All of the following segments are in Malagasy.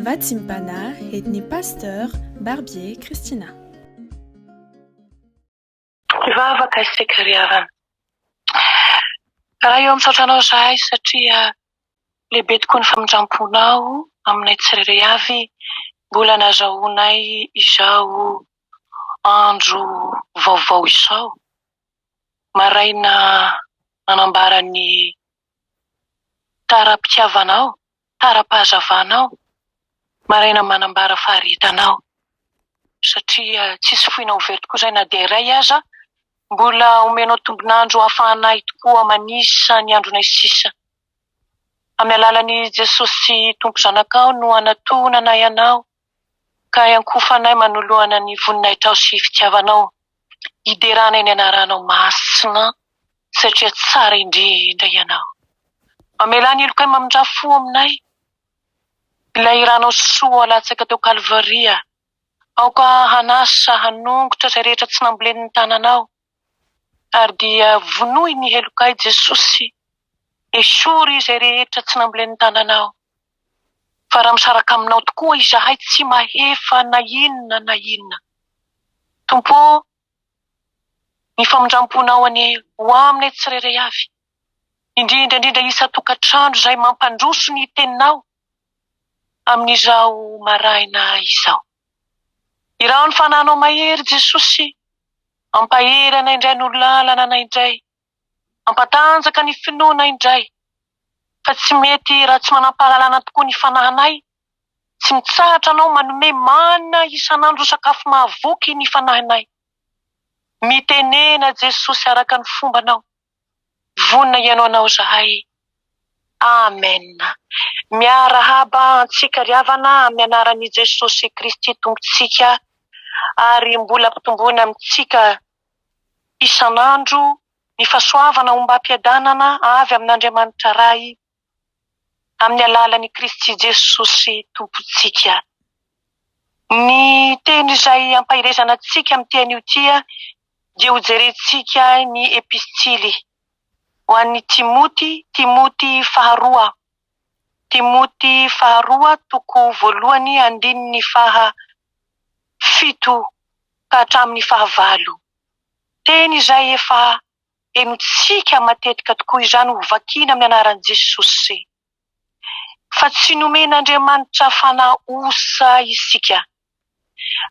Vatsimbana et ny Pasteur Barbier Christina. Mpivavaka isika ry havana. Raha eo misaotra anao izahay satria lehibe tokoa ny famindramponao aminay tsirairay avy mbola nazahoanay izao andro vaovao izao. Maraina nanambara ny Tara-pitiavana aho, tara-pahazavana aho, maraina manambara faharetana aho. Satria tsisy foina ho very tokoa izay na dia iray aza, mbola omenao tombon'andro hahafahana ahy tokoa manisa ny andronay sisa. Amin'ny alalan'i Jesosy Tompo Zanakao no anatohonana ahy anao, Ka iankofanay manoloana ny voninahitrao sy fitiavanao Hideranay ny anaranao masina Satria tsara indrindra ianao Mamelà ny helokay mamindrà fo aminay Ilay hiranao soa latsaka teo kalvaria Aoka hanasa hanongotra izay rehetra tsy nambolenin'ny tananao Ary dia vonoy ny heloka ahy Jesosy, esory izay rehetra tsy nambolen' ny tananao, fa raha misaraka aminao tokoa izahay tsy mahefa na inona na inona Tompo ô, ny famindramponao anie ho aminay tsirairay avy, indrindra indrindra isan-tokantrano izay mampandroso ny teninao amin' izao maraina izao. Iraho ny fananao mahery Jesosy Mampahery anay indray no lalana anay indray Mampatanjaka ny finoana indray Fa tsy mety raha tsy manampahalalana tokoa ny fanahinay Tsy mitsahatra anao manome mana isan'andro ho sakafo mahavoky ny fanahinay Mitenena Jesosy araka ny fombanao Vonona ianao anao izahay. Amen. Miarahaba antsika ry havana amin'ny anaran'i Jesosy Kristy Tompontsika ary mbola ampitomboina amintsika isan'andro ny fahasoavana ombam-piadanana avy amin'Andriamanitra Ray amin'ny alalan'i Kristy Jesosy Tompontsika. Ny teny izay ampaherezana antsika amin'ity anio ity dia hojerentsika ny epistily ho an'i Timoty, Timoty faharoa, Timoty faharoa toko voalohany andininy faha fito ka hatramin'ny faha valo. Teny izay efa. dia mitsiaka matetika tokoa izany ho vakiana amin'ny anaran'i Jesosy, fa tsy nomen'Andriamanitra fanahy osa isika,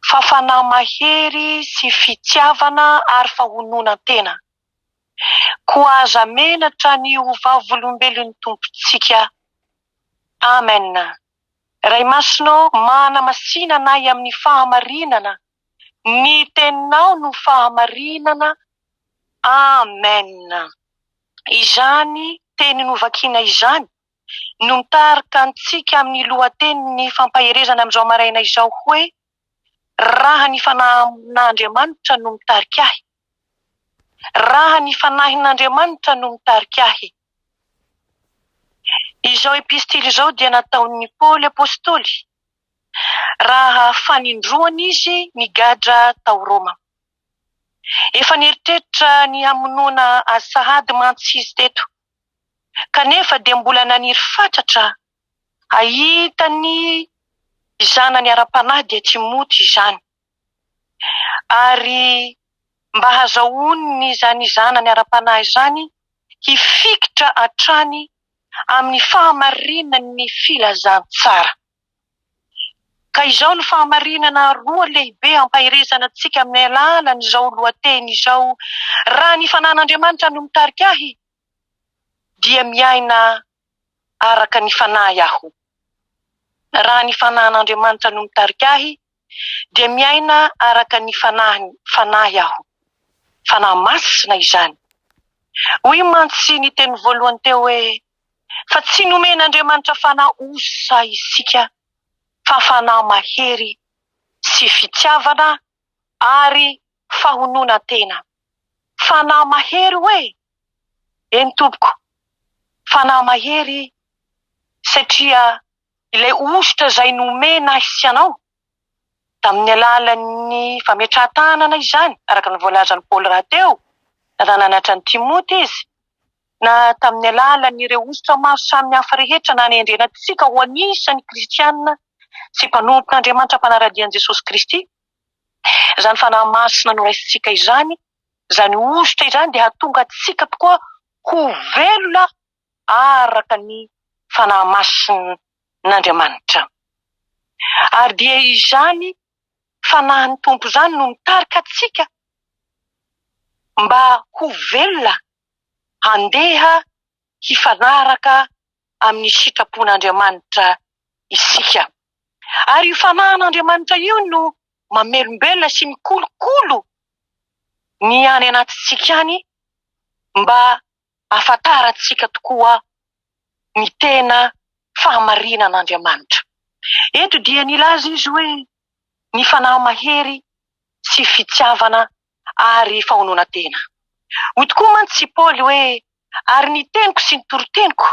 fa fanahy mahery sy fitiavana ary fahononan-tena. Koa aza menatra ny ho vavolombelon'ny Tompontsika. Amen. Ray Masina ô, manamasina anay amin'ny fahamarinana Ny teninao no fahamarinana Amen Izany teny novakina izany no mitarika antsika amin'ny lohatenin'ny fampaherezana amin'izao maraina izao hoe, Raha ny fanahin'Andriamanitra no mitarika ahy Raha ny fanahin'Andriamanitra no mitarika ahy Izao epistily izao dia nataon'i Paoly apostoly raha fanindroany izy nigadra tao Roma. Efa nieritreritra ny hamonoana azy sahady mantsy izy teto, kanefa dia mbola naniry fatratra hahita ny zanany ara-panahy dia Timoty izany, ary mba hahazahoany izany zanany ara-panahy izany hifikitra hatrany amin'ny fahamarinan'ny filazantsara. Ka izao no fahamarinana roa lehibe ampaherezana antsika amin'ny alalan'izao lohateny izao, Raha ny fanan'Andriamanitra no mitarika ahy, dia miaina araka ny fanahy aho. Raha ny fanan'Andriamanitra no mitarika ahy, dia miaina araka ny fanahiny fanahy aho. Fanahy masina izany. Hoy mantsy ny teny voalohany teo hoe, Fa tsy nomen'Andriamanitra fanahy osa isika, fa fanahy mahery sy fitiavana ary fahononan-tena. Fanahy mahery hoe? Eny tompoko, fanahy mahery satria Ilay hosotra izay nomena ahy sy anao, tamin'ny alalan'ny fametrahan-tanana izany, araka ny voalazan'i Paoly rahateo, na nananatra an'i Timoty izy, na tamin'ny alalan'ireo hosotra maro samihafa rehetra nanendrena antsika ho anisan'ny kristiana sy mpanompon'Andriamanitra mpanara-dia an'i Jesosy Kristy, izany fanahy masina noraisintsika izany, izany hosotra izany dia hahatonga antsika tokoa ho velona araka ny fanahy masin'Andriamanitra. Ary dia izany Fanahin'ny Tompo izany no mitarika antsika mba ho velona handeha hifanaraka amin'ny sitrapon'Andriamanitra isika. Ary io Fanahin'Andriamanitra io no mamelombelona sy mikolokolo ny any anatintsika any mba ahafantarantsika tokoa ny tena fahamarinan'Andriamanitra. Eto dia nilaza izy hoe ny fanahy mahery sy fitiavana ary fahononan-tena. Hoy tokoa mantsy i Paoly hoe, Ary ny teniko sy ny toriteniko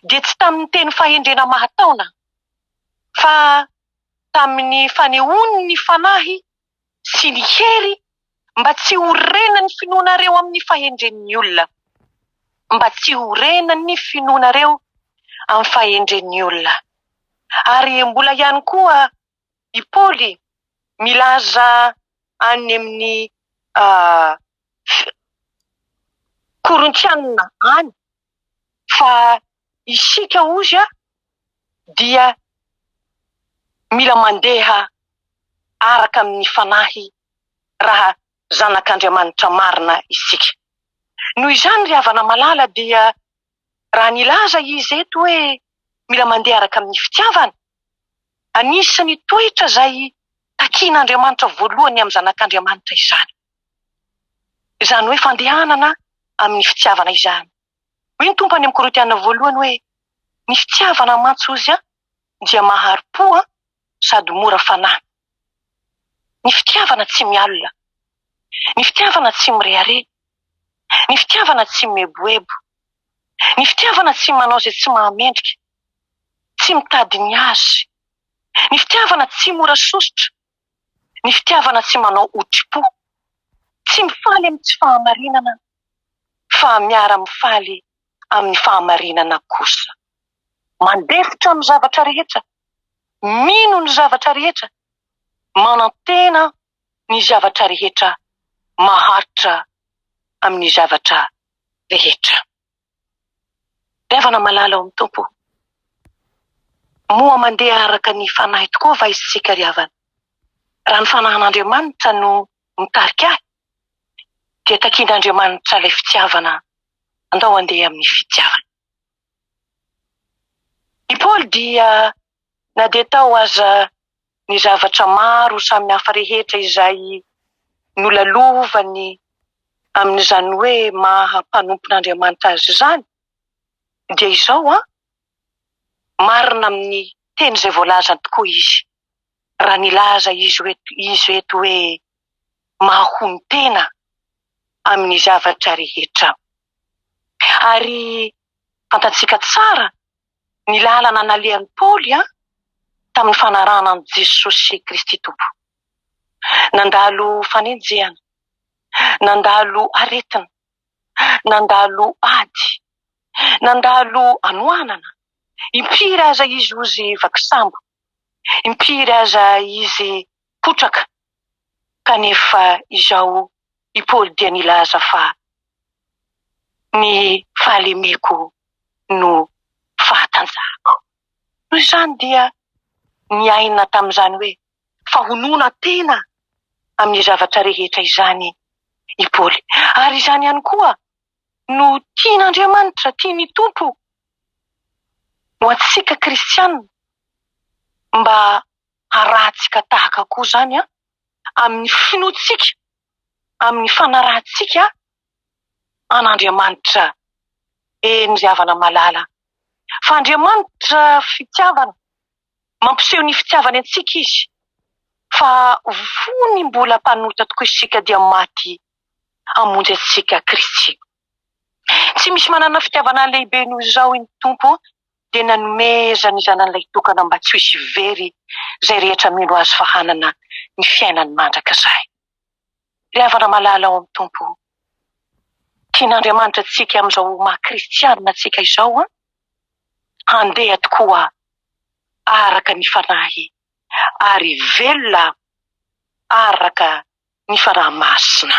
dia tsy tamin'ny teny fahendrena mahataona, fa tamin'ny fanehoan'ny fanahy sy ny hery mba tsy ho rena ny finoanareo amin'ny fahendren'ny olona, mba tsy ho rena ny finoanareo amin'ny fahendren'ny olona. Ary mbola ihany koa i Paoly milaza any amin'ny Korintiana any, fa isika ozy a dia mila mandeha araka amin'ny fanahy raha zanak'Andriamanitra marina isika. Noho izany ry havana malala dia raha nilaza izy eto hoe mila mandeha araka amin'ny fitiavana, anisan'ny toetra izay takian'Andriamanitra voalohany amin'ny zanak'Andriamanitra izany. izany hoe fandehanana amin'ny fitiavana izany. Hoy ny Tompo any amin'ny Korintiana voalohany hoe, Ny fitiavana mantsy hozy dia mahari-po sady mora fanahy. Ny fitiavana tsy mialona. Ny fitiavana tsy mirehareha. Ny fitiavana tsy mieboebo. Ny fitiavana tsy manao izay tsy mahamendrika. Tsy mitady ny azy. Ny fitiavana tsy mora sosotra. ny fitiavana tsy manao hotri-po, tsy mifaly amin'ny tsy fahamarinana fa miara-mifaly amin'ny fahamarinana kosa. Mandefitra amin'ny zavatra rehetra, mino ny zavatra rehetra, manantena ny zavatra rehetra, maharitra amin'ny zavatra rehetra. Fitiavana malala ao amin'ny Tompo. Moa mandeha araka ny Fanahy tokoa va isika ry havana? Raha ny Fanahin'Andriamanitra no mitarika ahy, dia takian'Andriamanitra ilay fitiavana, andao handeha amin'ny fitiavany. I Paoly dia Na dia tao aza ny zavatra maro samihafa rehetra izay nolalovany amin'izany hoe maha mpanompon'Andriamanitra azy izany, dia izao an, marina amin'ny teny izay voalazany tokoa izy, raha nilaza izy eto hoe mahonon-tena amin'ny zavatra rehetra. Ary fantatsika tsara Ny lalana nalehan'i Paoly tamin'ny fanarahana an'i Jesosy Kristy Tompo. Nandalo fanenjehana, nandalo aretina, nandalo ady, nandalo anoanana, impiry aza izy ozy vaky sambo, impiry aza izy potraka. Kanefa izao i Paoly dia nilaza fa ny fahalemeko no fahatanjahako. Noho izany dia niaina tamin'izany hoe fahonoana tena amin'ny zavatra rehetra izany i Paoly. Ary izany ihany koa no tian'Andriamanitra, tian'ny Tompo ho antsika kristiana mba harahantsika tahaka koa izany amin'ny finoantsika, amin'ny fanarahantsika an'Andriamanitra eny ry havana malala. Fa Andriamanitra fitiavana, mampiseho ny fitiavany antsika Izy, fa fony mbola mpanota tokoa isika dia maty hamonjy antsika Kristy. Tsy misy manana fitiavana lehibe noho izao iny Tompo dia nanomezany Zanan'ilay tokana mba tsy ho hisy very izay rehetra mino Azy fa hanana ny fiainany mandrakizay. Ry havana malala ao amin'ny Tompo o, tian'Andriamanitra antsika amin'izao ho maha kristianina antsika izao an! Handeha tokoa araka ny Fanahy ary velona araka ny Fanahy Masina.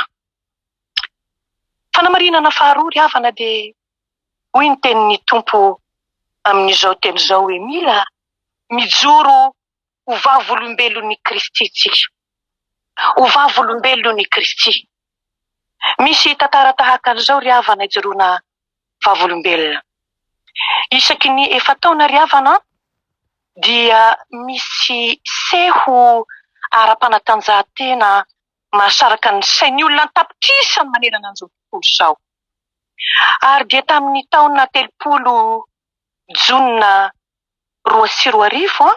Fanamarinana faharoa ry havana dia hoy ny tenin'ny Tompo amin'izao teny izao hoe mila mijoro ho vavolombelon'i Kristy isika. Ho vavolombelon'i Kristy. Misy tantara tahaka an'izao ry havana ijoroana vavolombelona. Isaky ny efa-taona ry havana an, dia misy seho ara-panatanjahantena mahasaraka ny sain'ny olona an-tapitrisany manerana an'izao tontolo izao. Ary dia tamin'ny taona telopolo Jona roa sy roa arivo,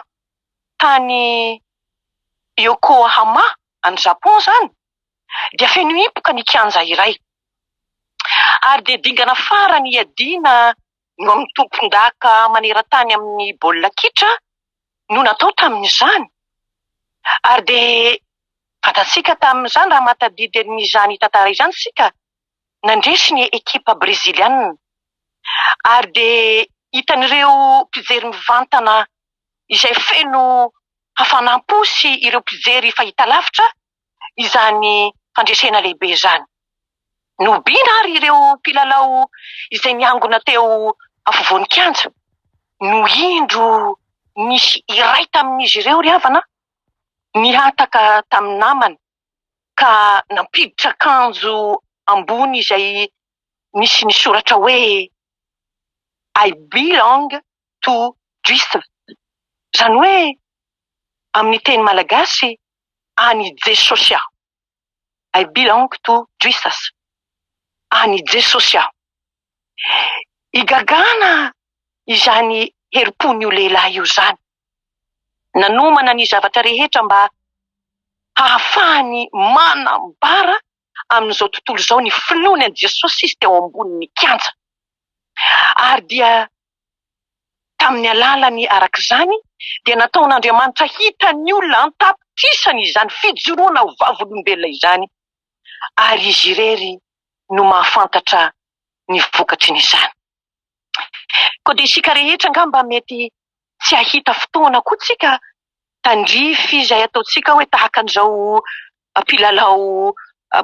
tany Yokohama, any Japon izany, dia feno hipoka ny kianja iray. Ary dia dingana farany hiadiana no amin'ny tompondaka maneran-tany amin'ny baolina kitra no natao tamin'izany ary dia fantatsika tamin'izany raha mahatadidy an'izany tantara izany isika nandresy ny ekipa breziliana ary dia hitan'ireo mpijery mivantana izay feno hafanam-po sy ireo mpijery fahitalavitra izany fandresena lehibe izany. Nohobiana àry ireo mpilalao izay niangona teo afovoan'ny kianja, no indro nisy iray tamin'izy ireo ry havana nihataka tamin'ny namany ka nampiditra akanjo ambony izay nisy ny soratra hoe I belong to Juism, izany hoe amin'ny teny malagasy, An i Jesosy aho I belong to Jesus An i Jesosy aho Igagana izany herim-pon'io lehilahy io izany nanomana ny zavatra rehetra mba hahafahany manambara amin'izao tontolo izao ny finoany an'i Jesosy izy teo ambonin'ny kianja. Ary dia tamin'ny alalany araka izany dia nataon'Andriamanitra hitan'ny olona an-tapitrisany izany fijoroana ho vavolombelona izany ary izy irery no mahafantatra ny vokatry ny izany. Koa dia isika rehetra angamba mety tsy hahita fotoana koa tsika tandrify izay ataontsika hoe tahaka an'izao mpilalao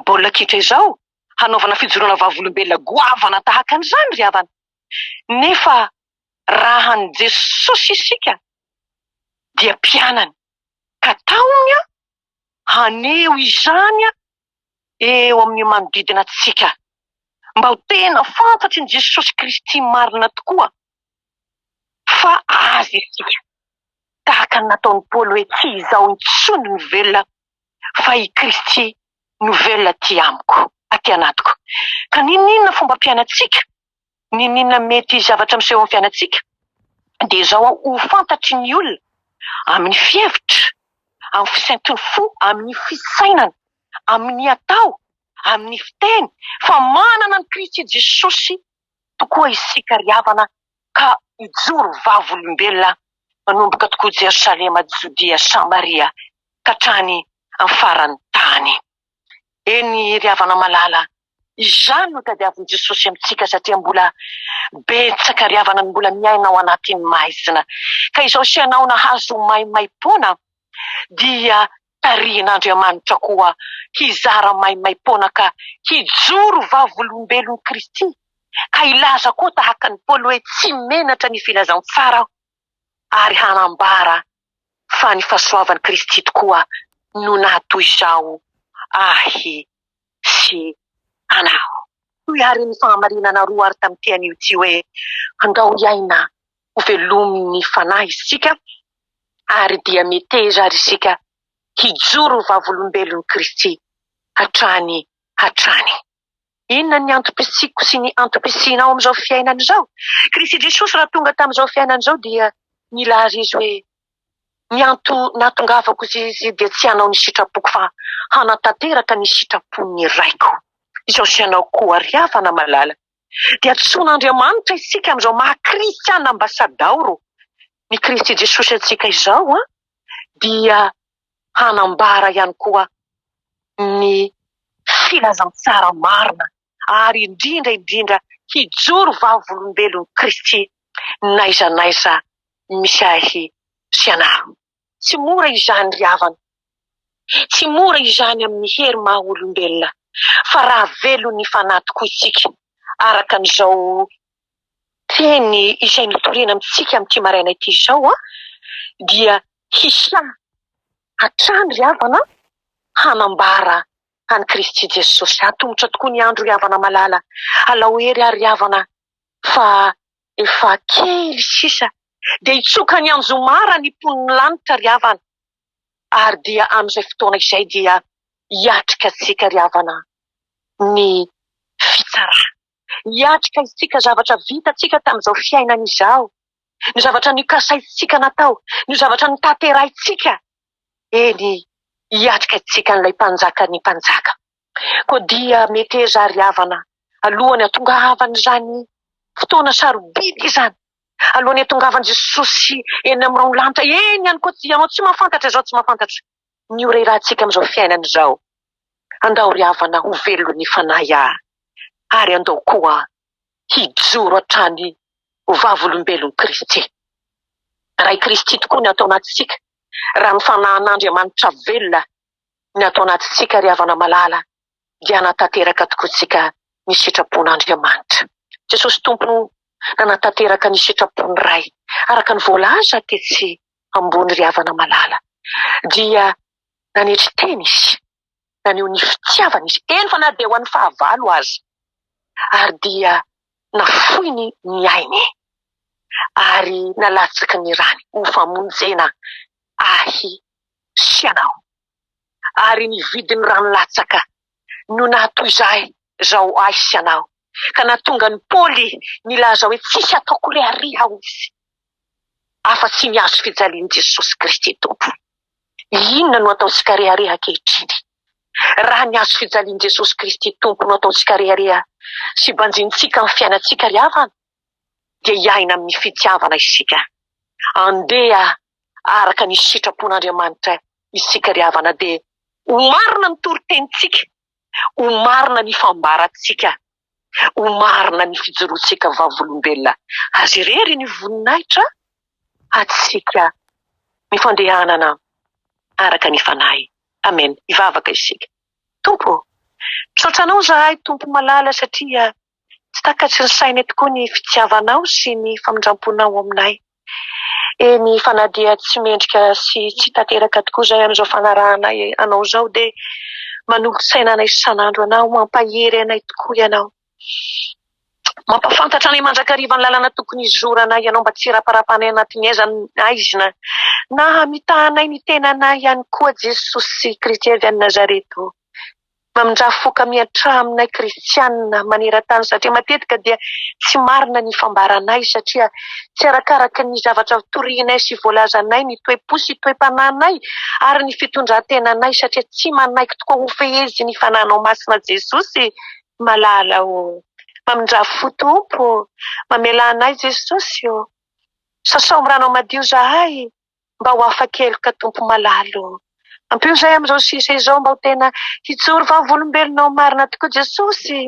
baolina kitra izao hanaovana fijoroana vavolombelona goavana tahaka an'izany ry havana. Nefa raha an'i Jesosy isika dia mpianany ka taominy haneho izany eo amin'ny manodidina antsika, mba ho tena fantatry ny Jesosy Kristy marina tokoa fa Azy isika, tahaka ny nataon'i Paoly hoe tsy izaho intsony no velona fa i Kristy no velona aty amiko, aty anatiko. Ka n'inon'inona fombam-piainantsika, N'inon'inona mety hisy zavatra miseho amin'ny fiainantsika dia izao an, ho fantatry ny olona amin'ny fihevitra, amin'ny fisainton'ny fo, amin'ny fisainana, amin'ny atao, amin'ny fiteny fa manana an'i Kristy Jesosy tokoa isika ry havana ka hijoro vavolombelona manomboka tokoa Jerosalema, Jodia, Samaria ka hatrany amin'ny faran'ny tany. Eny ry havana malala, izany no tadiavin'i Jesosy amintsika satria mbola betsaka ry havana no mbola miaina ao anatin'ny maizina ka izao sy anao nahazo maimaimpoana dia tarihin'Andriamanitra koa hizara maimaimpoana ka hijoro vavolombelon'i Kristy ka hilaza koa tahaka an'i Paoly hoe tsy menatra ny filazan'ny fara aho. ary hanambara fa ny fahasoavan'i Kristy tokoa no nahatoy izao ahy sy anao. Toy àry ny fahamarinana roa àry tamin'ity anio ity hoe, Andao hiaina ho velomin'ny fanahy isika, ary dia meteza àry isika hijoro ho vavolombelon'i Kristy hatrany hatrany. Inona ny antom-pisiako sy ny antom-pisianao amin'izao fiainana izao? Kristy Jesosy raha tonga tamin'izao fiainana izao dia nila ary Izy hoe, Ny antony nahatongavako izay izay dia tsy hanao ny sitrapoko fa hanatanteraka ny sitrapon'ny Raiko. Izao sy ianao koa ary havana malala dia antsoin'Andriamanitra isika amin'izao maha Kristiana ambasadaoro ny Kristy Jesosy antsika izao dia hanambara ihany koa ny filazantsara marina ary indrindra indrindra hijoro vavolombelon'i Kristy n'aiza n'aiza misy ahy sy ianareo. Tsy mora izany ry havana, tsy mora izany amin'ny hery maha olombelona, fa raha velon'ny fanahy tokoa isika araka an'izao teny izay notorena amintsika amin'ity maraina ity izao dia hisaha hatrany ry havana hanambara an'i Kristy Jesosy. Hatomotra tokoa ny andro ry havana malala. Alao hery ary ry havana fa efa kely sisa dia hitsoka ny anjomara ny mponin'ny lanitra ry havana ary dia amin'izay fotoana izay dia hiatrika antsika ry havana ny fitsarana. hiatrika isika zavatra vitantsika tamin'izao fiainana izao, ny zavatra nikasaintsika natao, ny zavatra notanterahintsika, eny, hiatrika isika an'ilay Mpanjakan'ny mpanjaka. Koa dia mety hezary havana alohan'ny hatongavan'izany fotoana sarobidy izany, alohan'ny hatongavan'i Jesosy eny amin'irony lanitra eny ihany koa, ianao tsy mahafantatra izao, tsy mahafantatra. ny ho rerahantsika amin'izao fiainana izao. Andao ry havana ho velon'ny fanahy aho, ary andao koa hijoro hatrany ho vavolombelon'i Kristy. Ray Kristy tokoa ny ato anatintsika, raha ny fanahin'Andriamanitra velona ny ato anatintsika ry havana malala. dia hanatanteraka tokoa isika ny sitrapon'Andriamanitra. Jesosy Tompo nanatanteraka ny sitrapon'ny Ray, araka ny voalaza tetsy ambony ry havana malala, dia nanetry tena Izy, naneho ny fitiavany Izy, eny fa na dia ho an'ny fahavalo aza, ary dia nafoiny ny ainy ary nalatsaky ny rany ho famonjena ahy sy anao. ary ny vidin'ny rano latsaka no nahatoizahy zao ahy sy anao ka nahatonga an'i Paoly nilaza hoe tsisy ataoko re ary aho izy afa tsy ny azo fijalian'i Jesosy Kristy Tompo. Inona no ataontsika rehareha ankehitriny raha ny azo fijalian'i Jesosy Kristy Tompo no ataontsika rehareha sy banjinintsika amin'ny fiainantsika ry havana? dia hiaina amin'ny fitiavana isika. Andeha araka ny sitrapon'Andriamanitra isika ry havana dia ho marina ny toritenintsika, ho marina ny fambarantsika, ho marina ny fijoroantsika vavolombelona Azy irery ny voninahitra antsika ny fandehanana araka ny Fanahy. Amen. Hivavaka isika. Tompo ô! Misaotra Anao izahay Tompo malala satria Tsy takatry ny sainay tokoa ny fitiavanao sy ny famindramponao ao aminay. Eny fa na dia tsy mendrika sy tsy tanteraka tokoa izay amin'izao fanarahana anao izao dia manolo-tsaina anay isan'andro anao, mampahery anay tokoa ianao. Mampahafantatra anay mandrakariva ny lalana tokony hizoranay ianao mba tsy hiraparapanay anatin'ny aiza na aiza na hamitahanay ny tenanay ihany koa Jesosy Kristy avy any Nazareta o. Mamindrà fo ka miantraha aminay kristiana maneran-tany satria matetika dia tsy marina ny fambaranay satria tsy arakaraky ny zavatra torianay sy voalazanay ny toe-po sy toe-panahinay ary ny fitondran-tenanay satria tsy manaiky tokoa hofehezin'ny fananao masina Jesosy malala ô Mamindrà fo Tompo ô Mamela anay Jesosy ô Sasao am-ranao madio zahay mba ho afa-keloka Tompo malala o. Ampio zahay amin'izao sisa izao mba ho tena hijoro vavolombelonao marina tokoa Jesosy.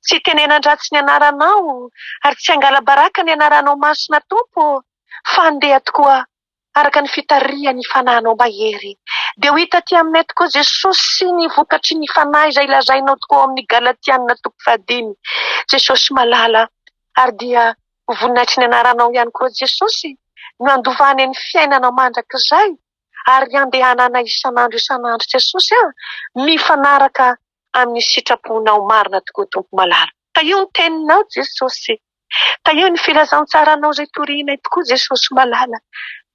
Tsy hitenenan-dratsy ny anaranao ary tsy hangala-baraka ny anaranao masina Tompo o. Fa handeha tokoa araka ny fitarihan'ny Fanahinao mahery. Dia ho hita aty aminay tokoa Jesosy ny vokatry ny Fanahy izay lazainao tokoa ao amin'ny Galatiana toko fahadimy Jesosy malala ary dia Ho voninahitry ny anaranao ihany koa Jesosy no handovane ny fiainanao mandrakizay ary handehanana isan'andro isan'andro Jesosy a! mifanaraka amin'ny sitraponao marina tokoa Tompo malala. Tahio ny teninao Jesosy. Tahio ny filazantsaranao izay torianay tokoa Jesosy malala.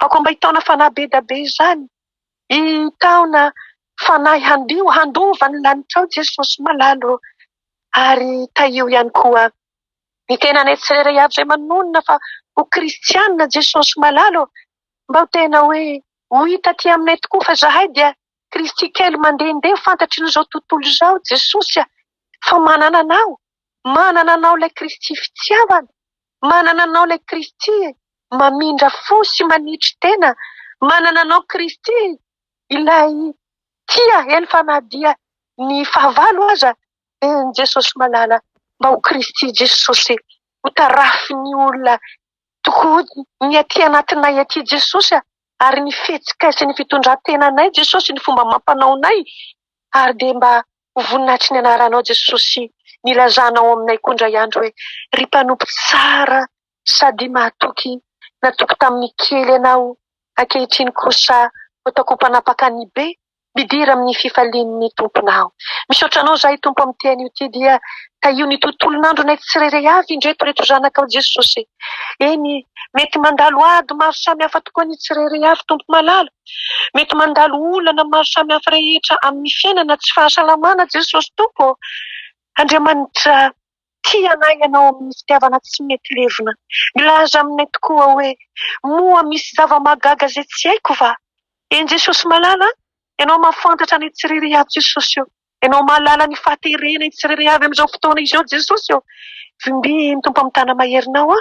Aoka mba hitaona fanahy be da be izany, hitaona fanahy handio handova ny lanitrao Jesosy malala ô! ary tahio ihany koa Ny tenanay tsirairay avy izay manonona fa ho kristianina Jesosy malala ô! Mba ho tena hoe ho hita aty aminay tokoa fa zahay dia Kristy kely mandehandeha fantatry ny izao tontolo izao Jesosy a! Fa manana anao! Manana anao ilay Kristy fitiavana! Manana anao ilay Kristy mamindra fo sy manitry tena! Manana anao Kristy ilay tia eny fa na dia ny fahavalo aza Amen Jesosy malala mba ho Kristy Jesosy e ho tarafin'ny olona tokoa ny aty anatinay aty Jesosy a ary ny fihetsikay sy ny fitondrantenanay Jesosy ny fomba amampanaonay ary dia mba ho voninahitry ny anaranao Jesosy ny ilazanao aminay koa indray andro hoe ry mpanompo tsara Sady mahatoky, natoky tamin'ny kely ianao, ankehitriny kosa ataoko ho mpanapaka ny be, midira amin'ny fifalian'ny tomponao. Misaotra Anao izahay Tompo amin'ity haino ity dia tahio ny tontolon'andronay tsirairay avy indreto reto zanakao Jesosy eny mety mandalo ady maro samy hafa tokoa ny tsirairay avy Tompo malala mety mandalo olana maro samy hafa rehetra amin'ny fiainana tsy fahasalamana Jesosy Tompo ô Andriamanitra Tia anay ianao amin'ny fitiavana tsy mety levona. Milaza aminay tokoa hoe, Moa misy zava-mahagaga izay tsy haiko va? Eny Jesosy malala a! Ianao mahafantatra ny tsiriria ato Jesosy o! Ianao mahalala ny fahaterena hitsiriria avy amin'izao fotoana izao Jesosy o! Vimbihy ny Tompo amin'ny tana-maherinao aho.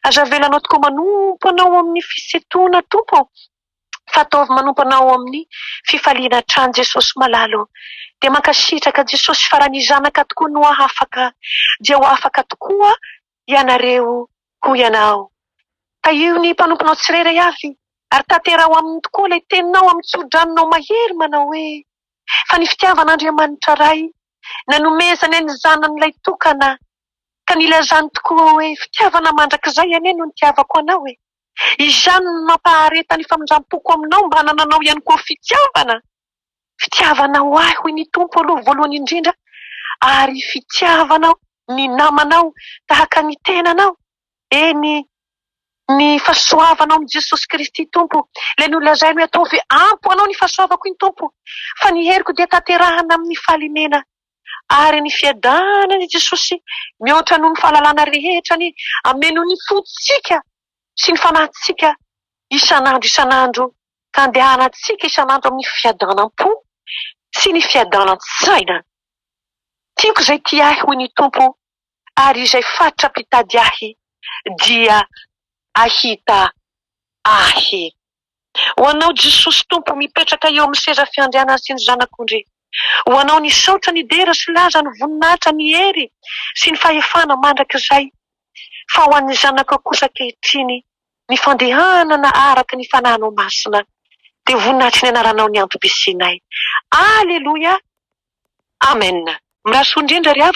Aza avelanao tokoa manompo anao ao amin'ny fisintonana Tompo o! Fataovy manompana ao amin'ny fifaliana hatrany Jesosy malala o. Dia mankasitraka Jesosy fa raha ny zanaka tokoa no afaka dia ho afaka tokoa ianareo hoy ianao. Tahio ny mpanomponao tsirairay avy ary tanteraho aminy tokoa ilay teninao amin'ny tsoridranonao mahery manao hoe fa ny fitiavan'Andriamanitra Ray nanomezany an'ny zanany ilay tokana ka nilazany tokoa hoe fitiavana mandrakizay anie no nitiavako anao e. Izany no mampahareta ny famindram-poko aminao mba hanananao ihany koa fitiavana. Fitiavanao ahy, hoy ny Tompo, aloha voalohany indrindra, ary fitiavanao ny namanao tahaka ny tenanao, eny, ny fahasoavanao amin'i Jesosy Kristy Tompo. Ilay nolazainy hoe, Ataovy ampy ho anao ny fahasoavako iny, Tompo, fa ny heriko dia tanterahina amin'ny fahalemena ary ny fiadanana ny Jesosy mihoatra noho ny fahalalana rehetra ny hameno ny fontsika sy ny fanahintsika isan'andro isan'andro ka andehanantsika isan'andro amin'ny fiadanam-po sy ny fiadanan-tsaina Tiako izay tia ahy hoy ny Tompo ary izay fatra-pitady ahy dia ahita ahy Ho anao Jesosy Tompo mipetraka eo amin'ny seza fiandrianany sy ny Zanak'ondry. Ho anao nisaotra ny dera sy laza ny voninahitra ny hery sy ny fahefana mandrakizay fa ho an'ny Zanakao kosa ankehitriny ny fandehanana araka ny fanahinao masina dia voninahitry ny anaranao ny antom-pisianay. Aleloia Amen. Mirasoo indrindra ry havana.